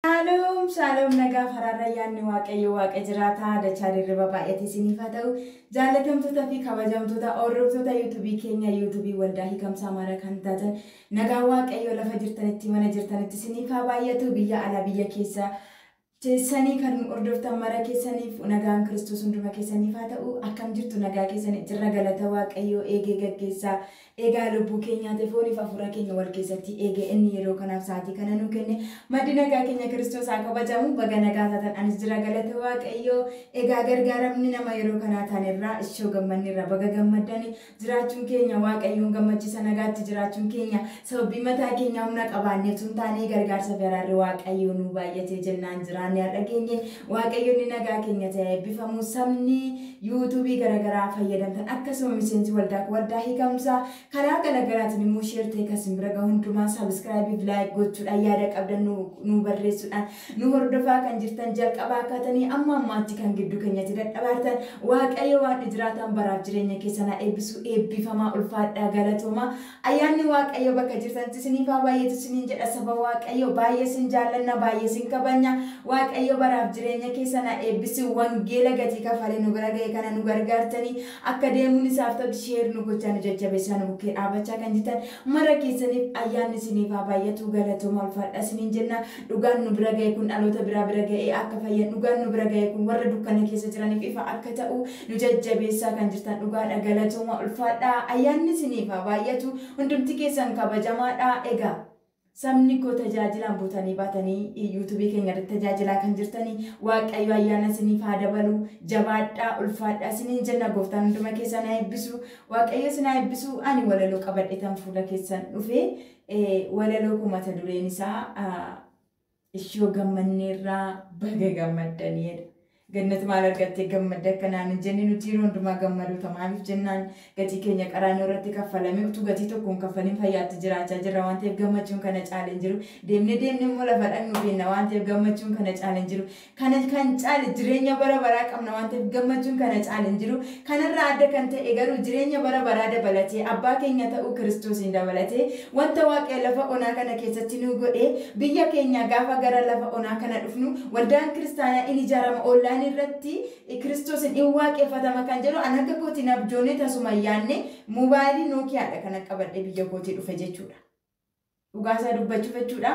Shaaloom shaaloom nagaaf haraarra ayyaanni waaqayyo waaqa jiraataa dachaa dirriba baay'ate isiniif haa ta'u jaallatamtoota fi kabajamtoota hordoftoota yuutubii keenya yuutubii waldaa hiikamsa amaaraa kan taatan nagaa waaqayyo lafa jirtanitti mana jirtanitti isiniif haa baay'atu biyya alaa biyya keessa teessanii kan nu hordoftan mara keessaniif nagaan kiristoos hunduma keessaniif haa ta'u akkam jirtu nagaa keessanii jirra galata waaqayyo eegee gaggeessaa Egaa lubbuu keenyaati fooniif hafuura keenya wal keessatti eege inni yeroo kanaaf sa'aatii kana nuu kenne maddi nagaa keenya kiristoos haa kabajamu baga nagaa taatan anis jira galata waaqayyoo egaa gargaaramni nama yeroo kanaa taanerraa ishoo gammanneerra baga gammaddani jiraachuun keenya waaqayyoon gammachiisa nagaatti jiraachuun keenya sababii mataa keenya humna qabaanneef tun taanee gargaarsa fi araarri waaqayyoo nuu baay'atee jennaan jiraanne har'a geenye Waaqayyo inni nagaa keenya ta'e haa eebbifamu. Sabni YouTube garagaraa fayyadamtan akkasuma miseensi waldaa koo waldaa hiikamsa karaa galagaraatiin immoo share ta'e kan isin bira gahu hundumaa subscribe fi like gochuudhaan yaada qabdan nu nu barreessuudhaan nu hordofaa kan jirtan jalqabaa kaatanii amma ammaatti kan gidduu keenyatti dadhabaartan Waaqayyo Waaqni jiraataan baraaf jireenya keessan haa eebbisu eebbifamaa ulfaadhaa galatoomaa Ayyaanni waaqayyo bakka jirtanitti isiniif haa baay'atu isiniin jedha saba waaqayyo baay'ee sin jaallanna baay'ee sin kabajna waaqayyo baraaf jireenya keessan haa eebbisu wangeela gatii kafalee nu bira ga'e kana nu gargaartanii akka deemuun isaaf ta'utti sheer nu gochaa nu jajjabeessaa nu bukkee dhaabachaa kan jirtan mara keessaniif ayyaanni isiniif haa baay'atu galatooma ulfaadha isiniin jenna dhugaan nu bira ga'e kun dhaloota biraa bira ga'ee akka fayyan dhugaan nu bira ga'e kun warra dukkana keessa jiraniif ifa akka ta'u Nu jajjabeessaa kan jirtan dhugaadha galatooma ulfaadhaa ayyaanni isiniif haa baay'atu hundumti keessan kabajamaadha egaa sabni koo tajaajilaan butanii baatanii yuutubii keenya irratti tajaajilaa kan jirtanii waaqayyo ayyaana isiniif haa dabaluu jabaadhaa ulfaadhaa isiniin jenna gooftaan hunduma keessan haa eebbisu waaqayyo isin haa eebbisu ani walaloo qabadhetan fuula keessan dhufe walaloo koo mata dureen isaa Ishoo gammanneerra baga gammaddan jedha. Gannat maal argattee gammadde akka naan hin jenne nuti yeroo hundumaa gammadoota maaliif jennaan gatii keenya qaraanoo irratti kaffalame utuu gatii tokko hin kaffalin fayyaatti jiraachaa jirra waan ta'eef gammachuun kana caale hin jiru deemne deemne immoo lafa dhaqnu beenna waan ta'eef gammachuun kana caale hin jiru Kana kan caale jireenya bara baraa qabna waan ta'eef gammachuun kana caale hin jiru. Kanarraa adda kan ta'e garuu jireenya bara baraa dabalatee, Abbaa keenya ta'uu Kiristoosiin dabalatee, wanta Waaqayyo lafa onaa kana keessatti nuu godhe, biyya keenyaa gaafa gara lafa onaa kana dhufnu, waldaan kiristaanaa in ijaarama, online irratti Kiristoosiin in waaqeffatama kan jedhu an akka kootiin abjoonee tasuma hin yaadne, mobaayilii Nokia dha kanan qabadhee biyya kootii dhufe jechuudha. Dhugaa isaa dubbachuuf jechuudha.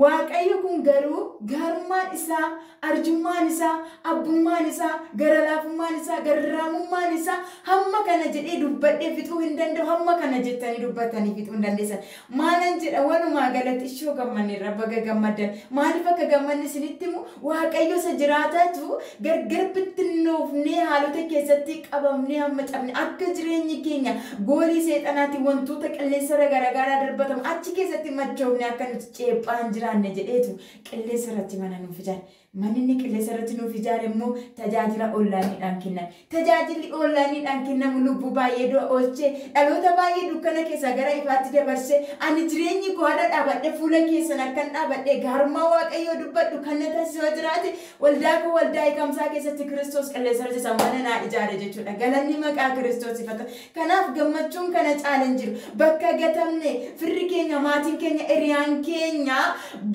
Waaqayyo kun garuu gaarummaan isaa, arjummaan isaa, abbummaan isaa, garalaafummaan isaa, garraamummaan isaa hamma kana jedhee dubbadhee fixuu hin danda'u, hamma kana jettanii dubbattanii fixuu hin dandeessan. Maalan jedha walumaa galatti ishoo gammanneerra baga gammaddan. Maaliif akka gammanne isinitti himu Waaqayyo isa jiraataatu gargar bittinnoofnee haalota keessatti qabamnee hamma cabne akka jireenyi keenya goolii seexanaatiin wantoota qilleensarra garagaaraa darbatamu achi keessatti machoofnee akka nuti ceephaa hin jiraanne jedheetu qilleensarratti mana nuuf ijaare. Manni inni qilleensarratti nuuf ijaare immoo tajaajila onlaayiniidhaan kenname. Tajaajilli oonlaayiniidhaan kennamu lubbuu baay'ee du'a oolche, dhaloota baay'ee dukkana keessaa gara ifaatti dabarse. Ani jireenyi koo har'a dhaabadhee fuula keessan akkan dhaabadhee gaarummaa Waaqayyoo dubbadhu kan na taasisu yoo jiraate, waldaa koo waldaa eegamsaa keessatti Kiristoos Qilleensarratti isa mana naa ijaare jechuudha. Galanni maqaa Kiristoosiif haa ta'u. Kanaaf gammachuun kana caala hin jiru. Bakka gatamne, firri keenya, maatiin keenya, hiriyaan keenya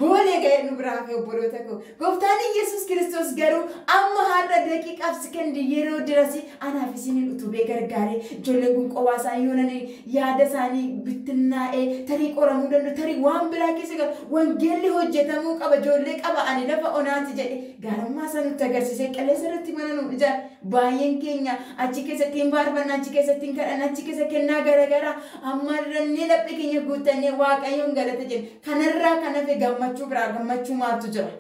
boolee ga'ee nu bira hafe obboloota koo. Gooftaan Iyyesuus Kiristoos garuu amma har'a daqiiqaaf sekondii yeroo dirasi anaaf isiniin utubee gargaaree ijoolleen kun qobaa isaanii yoo nani yaada isaanii bittinnaa'ee tarii qoramuu danda'u tarii waan biraa keessa galu wangeelli hojjetamuu qaba ijoollee qaba ani lafa onaati jedhe gaarummaa isaa nutti agarsiisee qilleensa irratti mana nuu ijaare Baay'een keenya achi keessatti hin faarfanna, achi keessatti hin kadhanna, achi keessa kennaa garagaraa ammarrannee laphee keenya guuttannee Waaqayyoon galata jenna. Kanarraa kan hafe gammachuu biraa gammachuu maaltu jira?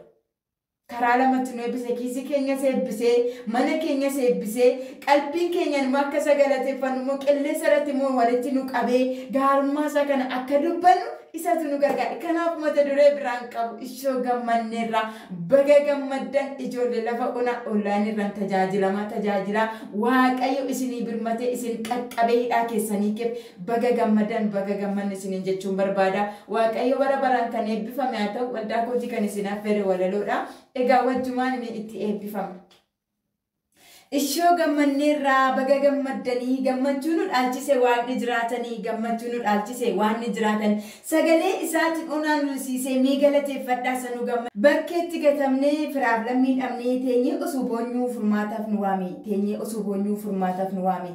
Karaa lamatti nu eebbise, kiisii keenyas eebbisee, mana keenyas eebbisee, qalbiin keenyaan immoo akka isa galateeffannu immoo qilleensa irratti immoo walitti nu qabee gaarummaa isaa kana akka dubbannu isatu nu gargaare. Kanaaf mata duree biraa hin qabu. Ishoo gammanneerra. Baga gammaddan ijoolle lafa ona online irran tajaajilama tajaajila waaqayyo isinii birmate isin qaqqabe hidhaa keessanii keef baga gammadan baga gammanne isiniin jechuun barbaada waaqayyo bara baraan kan eebbifame haa ta'u waldaa kootii kan isin affeere walaloodha egaa wajjumaan mee itti eebbifama. Ishoo gammanneerra baga gammaddanii gammachuu nu dhaalchise waaqni jiraatani gammachuu nu dhaalchise waanni jiraatan sagalee isaatin onaa nu risiisee mee galateeffadhaa isa nu gamma bakkeetti gatamne firaaf lammii dhabnee teenyee osoo boonyuu furmaataaf nu waami teenyee osoo boonyuu furmaataaf nu waami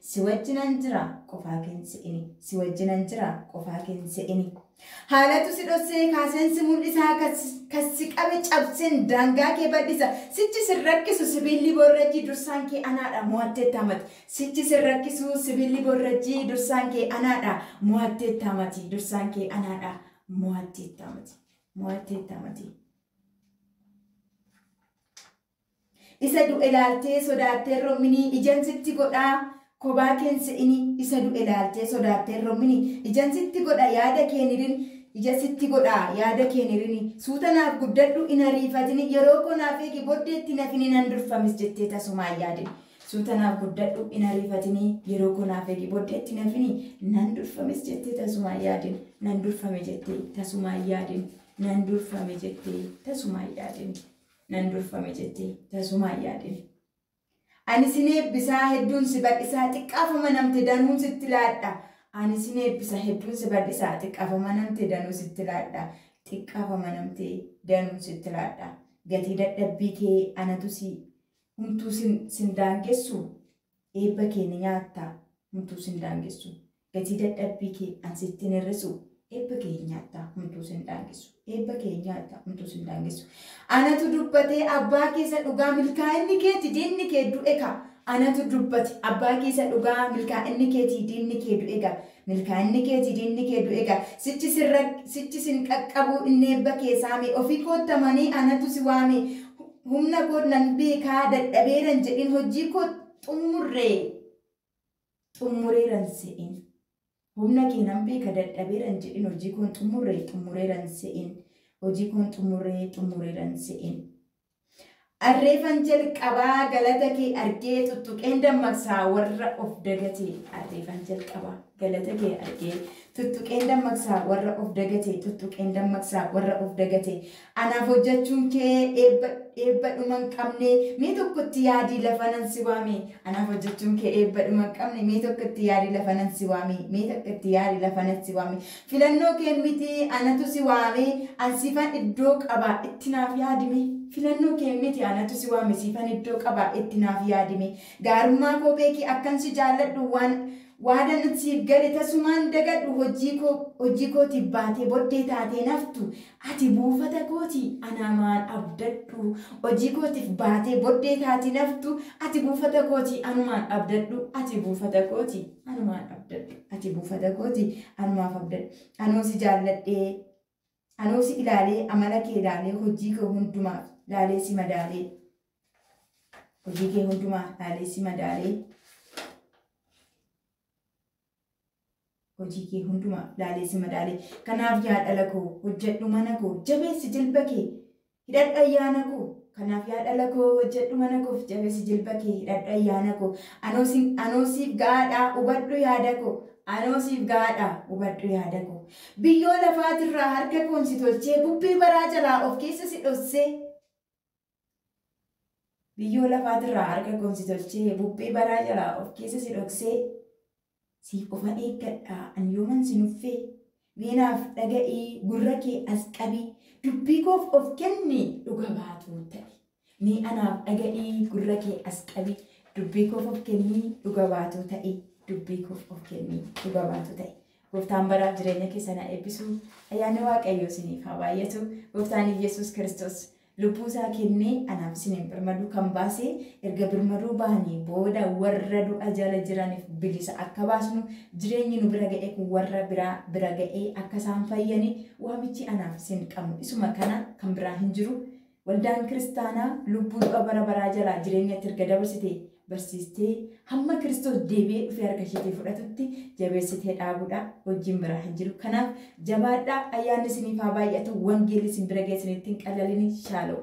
Si wajjinan jira qofaa keen se'ini. Si wajjinan jira qofaa keen se'ini. Haalatu si dhossee kaaseen si mul'isaa kas kas si qabe cabseen daangaa kee bal'isa. Sichi sin rakkisu sibiilli boorrajjii dursaan kee anaadha mo'atteetta mati. Sichi sin rakkisu sibiilli boorrajjii dursaan kee anaadha mo'atteetta mati. Dursaan kee anaadha mo'atteetta mati. Mo'atteetta mati. Isa du'e laaltee sodaatteen rommini ijan sitti godha Kobaa keen se'ini Isa du'e laaltee sodaatteen rommini ijan sitti godha Yaada keen hirin ija sitti godha Yaada keen hirini Suuta naaf guddadhu hin ariifatini Yeroo koo naaf eegi boddeetti hin hafini Nan durfa mis jettee tasumaa hin yaadini Suuta naaf guddadhu hin ariifatini Yeroo koo naaf eegi boddeetti hin hafini Nan durfa mis jettee tasumaa hin yaadini Nan durfame jettee tasumaa hin yaadini Nan durfame jettee tasumaa hin yaadini. nan durfame jettee tasumaa hin yaadin. Ani sin eebbisaa hedduun si badhisaa xiqqaaf amanamte danuun sitti laadha Ani sin eebbisa hedduun si badhisaa xiqqaaf amanamte danuu sitti laadha xiqqaaf amanamte danuun sitti laadha gatii dadhabbii kee anatu si humtuu sin sin daangessu Eebba kee ni nyaatta, homtuu sin daangessu. Gatii dadhabbii kee an sitti hin hir'isu. Eebba kee hin nyaatta, homtuu sin daangessu. Eebba kee hin nyaatta, homtuu sin daangessu. Anatu dubbate, abbaa kee isa dhugaa, milkaa'inni keeti, diinni kee du'e ka. Anatu dubbate, abbaa kee isa dhugaa, milkaa'inni keeti, diinni kee du'e ga. Milkaa'inni kee ti diinni kee du'e gaa. Sichi sirra sichi sin qaqqabuu inni eebba kee saame. Ofii kootta manii anatu si waame. Humna koo nan beekaa dadhabeeran jedhin hojii koo xummurree xummureeran se'in. Humna kee nan beeka dadhabeeran jedhin hojii koon xummurree xummureeran se'in. Hojii koon xummurree xummureeran se'in. Arreefan jalqabaa galata kee argee tuttuqeen dammaqsaa warra of dagate arreefan jalqabaa galata kee argee tuttuqeen dammaqsaa warra of dagate tuttuqeen dammaqsaa warra of dagate anaaf hojjechuun kee eebba eebba dhuma hin qabne mee tokkotti yaadii lafa nan si waame anaaf hojjechuun kee eebba dhuma hin qabne mee tokkotti yaadii lafa nan si waame mee tokkotti yaadii lafa nan si waame Filannoo kee miti anatu si waame an siifan iddoo qaba itti naaf yaadime Filannoo kee miti anatu si waame siifan iddoo qaba itti naaf yaadime Gaarummaa koo beeki akkan si jaalladhu waan Waadan siif gale tasumaan dagadhu hojii koo hojii kootiif baatee boddee taatee naftu Ati buufata kooti, anaa maal abdadhu? Hojii kootiif baatee boddee taati naftu, ati buufata kooti, anumaan abdadhu, ati buufata kooti, anumaan abdadhu, ati buufata kooti, anumaaf abdadhu. Anoo si jaalladhee, anoo si ilaalee, amala kee ilaalee, hojii kee hundumaaf laalee si madaalee, hojii kee hundumaaf laalee si madaalee. Hojii kee hundumaa laalee si madaale. Kanaaf yaa dhala koo, hojjedhu mana koo, jabeessi jilba kee, hidhadhu ayyaana koo. Kanaaf yaa dhala koo, hojjedhu mana koof, jabeessi jilba kee, hidhadhu ayyaana koo. Anoo sin, anoo siif ga'aadha, hubadhu yaada koo. Anoo siif ga'aadha, hubadhu yaada koo. Biyyoo lafaatirraa harka koon si tolchee, bubbee baraa jalaa of keessa si dhossee. Biyyoo lafaatirraa harka koon si tolchee, bubbee baraa jalaa of keessa si dhoksee, siif ofan eeggadha an yooman si nuffee, mee naaf dhaga'ii gurra kee as qabii, dubbii koof of kenni dhuga baatuu ta'i. Mee anaaf dhaga'ii gurra kee as qabii, dubbii koof of kenni dhuga baatuu ta'i, dubbii koof of kenni dhuga baatuu ta'i. Gooftaan baraaf jireenya keessan haa eebbisu. Ayyaanni Waaqayyoo isiniif haa baay'atu. Gooftaan Iyyasuus Kiristoos Lubbuu isaa kennee anaaf isiniif birmaduu kan baase, erga birmaduu baanee booda warra du'a jala jiraniif bilisa akka baasnu, jireenyi nu bira ga'e kun warra biraa bira ga'ee akka isaan fayyani, waamichi anaaf isin qabnu isuma kana kan biraa hin jiru. Waldaan kiristaanaa lubbuu du'a bara baraa jalaa jireenyatti erga dabarsite barsiistee hamma Kiristoos deebi'ee dhufee harka isheetii fudhatutti jabeessitee dhaabuudha. Hojiin biraa hin jiru. Kanaaf jabaadhaa ayyaanni isiniif haa baay'atu wangeelli isin bira ga'e isinitti hin qalalini shaaloo.